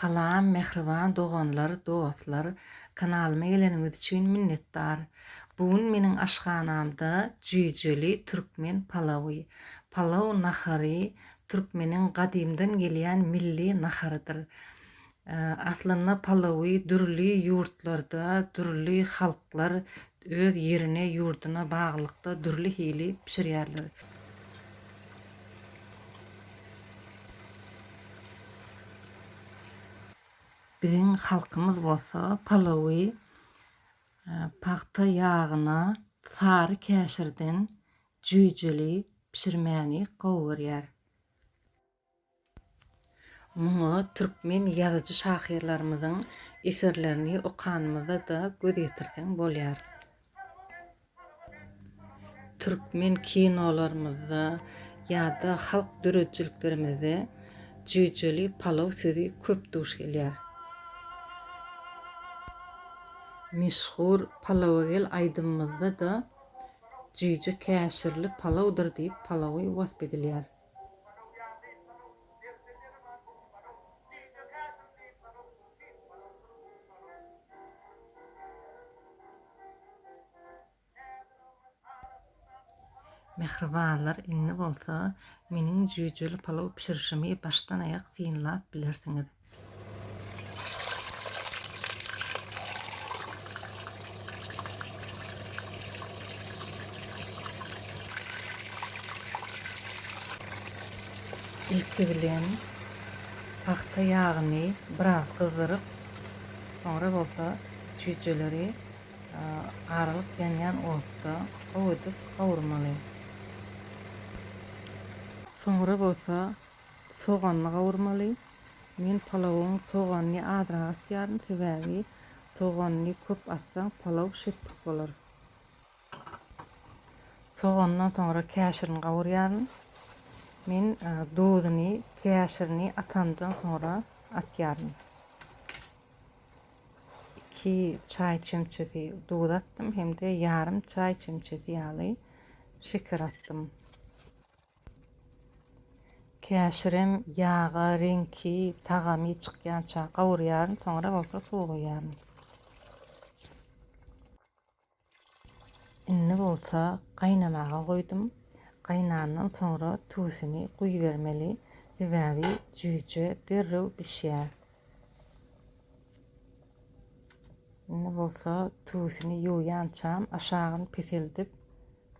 Salam mähriban doganlar dostlar kanalyma geleniňiz üçin minnetdar bu gün meniň aşhanamda jüýjeli türkmen palawy palaw nahary türkmeniň gadymdan gelýän milli naharydyr aslynda palawy dürli ýurtlarda dürli halklar Öz ýerine, ýurduna baglylykda dürli hili bişirýärler. Biziň halkymyz bolsa palawy pagta ýagyna, sary käşirden jüýjeli bişirmäni gowy görýär. Muňa türkmen ýazyjy-şahyrlarymyzyň eserlerini okanymyzda-da göz ýetirseň bolýar. Türkmen kinolarymyzda ýa-da halk döredijiliklerimizde jüýjeli palaw sözi köp duş gelýär. Meşhur Palawagel aýdymymyzda-da jüýje käşirli palawdyr diýip palawy wasp edilýär. Mähribanlar indi bolsa meniň jüýjeli palaw bişirişimi başdan aýak synlap bilersiňiz. Ilki bilen pagta ýagyny biraz gyzdyryp, soňra bolsa çüýjeleri aralyk ýanýan otda gowy edip gowurmaly. Soňra bolsa Soganyny gawurmaly. Men palawyň soganyny azrak atýaryn, sebäbi soganyny köp atsaň palaw şetduk bolar. Sogandan soňra käşirini gawurýaryn. Men duzuny, käşirini atamdan soňra atýaryn. 2 çaý çemçesi duz atdym hem-de ýarym çaý çemçesi ýaly şeker atdym. Käşirem ýaga reňki, tagamy çykýança gawurýaryn, soňra bolsa suw guýýaryn. Indi bolsa gaýnamaga goýdum. Gaýnandan soňra tuzuny guýubermeli, sebäbi jüýje derrew bişýär. Indi bolsa tuzuny ýuwýançam aşagyny peseldip,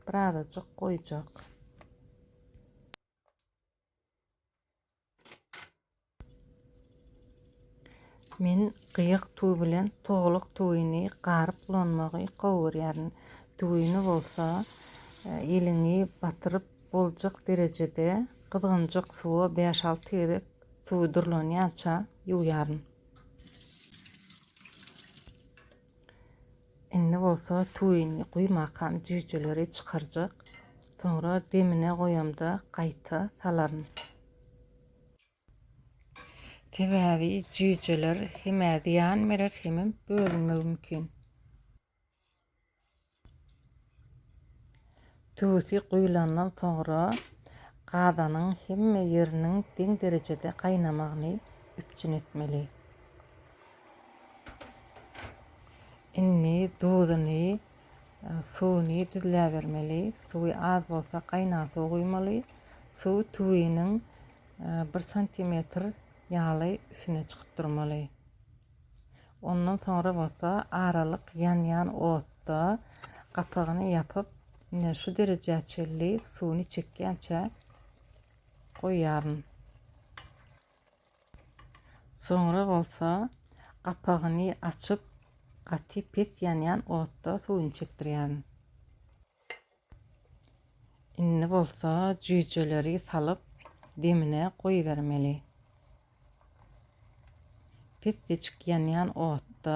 Birazajyk goýjak. Men gyýyk tüwi bilen towluk tüwini garyp ulanmagy gowy görýärin. Tüwini bolsa e, eliňi batyryp boljak derejede gyzgynjak suwa 5-6 gezek suwy durlanýança ýuwýaryn. Indi bolsa tuwini guýmakam jüýjeleri çykarjak. Soňra demine goýamda gaýta salaryn. Sebäbi jüýjeler hemä zyýan berer hemem bölünmegi mümkin. Tüwüsi guýlandan soňra gazanyň hemme ýeriniň deň derejede gaýnamagyny üpjün etmeli. Indi duzuny, suwuny düzläbermeli. Suwy az bolsa gaýnan suw guýmaly. Suw tüwiniň bir santimetr ýaly üstüne çykyp durmaly. Ondan soňra bolsa aralyk ýanýan otda gapagyny ýapyp, ine şu derejä çenli suwuny çekýänçä goýýaryn. Soňra bolsa gapagyny açyp, gaty pes ýanýan otda suwuny çekdirýärin. Indi bolsa jüýjeleri salyp, demine goýbermeli. Pesjeçik ýanýan otda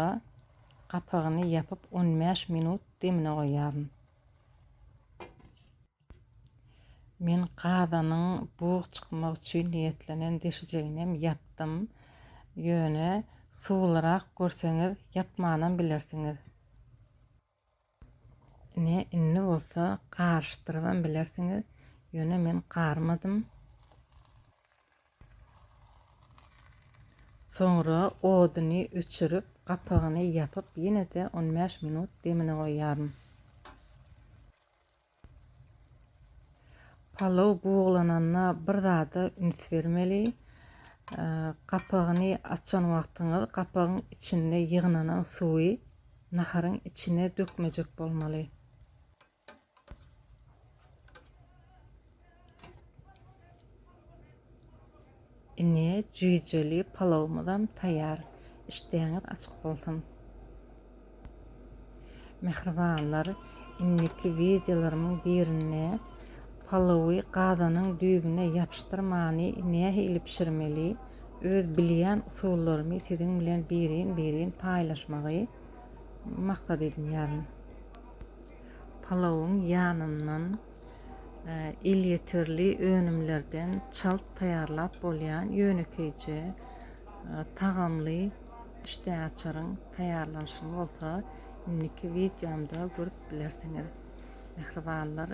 gapagyny ýapyp on bäş minut demine goýýaryn. Men gazanyň bug çykmak üçin niýetlenen deşijeginem ýapdym. Ýöne suwlurak görseňiz ýapmanam bilersiňiz. Ine, indi bolsa garyşdyrybam bilersiňiz, ýöne men garmadym. Soňra oduny öçürip, gapagyny ýapyp, ýene-de on bäş minut demine goýýaryn. Palaw buglananda bir zada üns bermeli. Gapagyny açan wagtyňyz gapagyň içinde ýygnanan suwy naharyň içine dökmejek bolmaly. Ine jüýjeli palawymyzam taýýar. Işdäňiz açyk bolsun. Mähribanlar, indiki wideolarymyň birinde palawy gazanyň düýbüne ýapyşdyrmany nähili bişirmeli, öz bilýän usullarymy siziň bilen birin-birin paýlaşmagy maksat edinýärin. Palawyň ýanyndan Elýeterli önümlerden çalt taýýarlap bolýan ýönekeýje, tagamly işdäaçaryň taýýarlanyşyny bolsa indiki wideomda görüp bilersiňiz. Mähribanlar,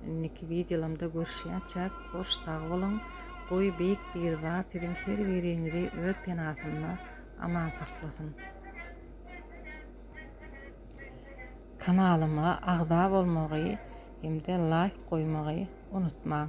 indiki wideolamda görüşýänçäk, hoş sag boluň! Goý, Beýik Biribar siziň her biriňizi öz penasynda aman saklasyn! Kanalyma agza bolmagy hem-de laýk goýmagy unutmaň.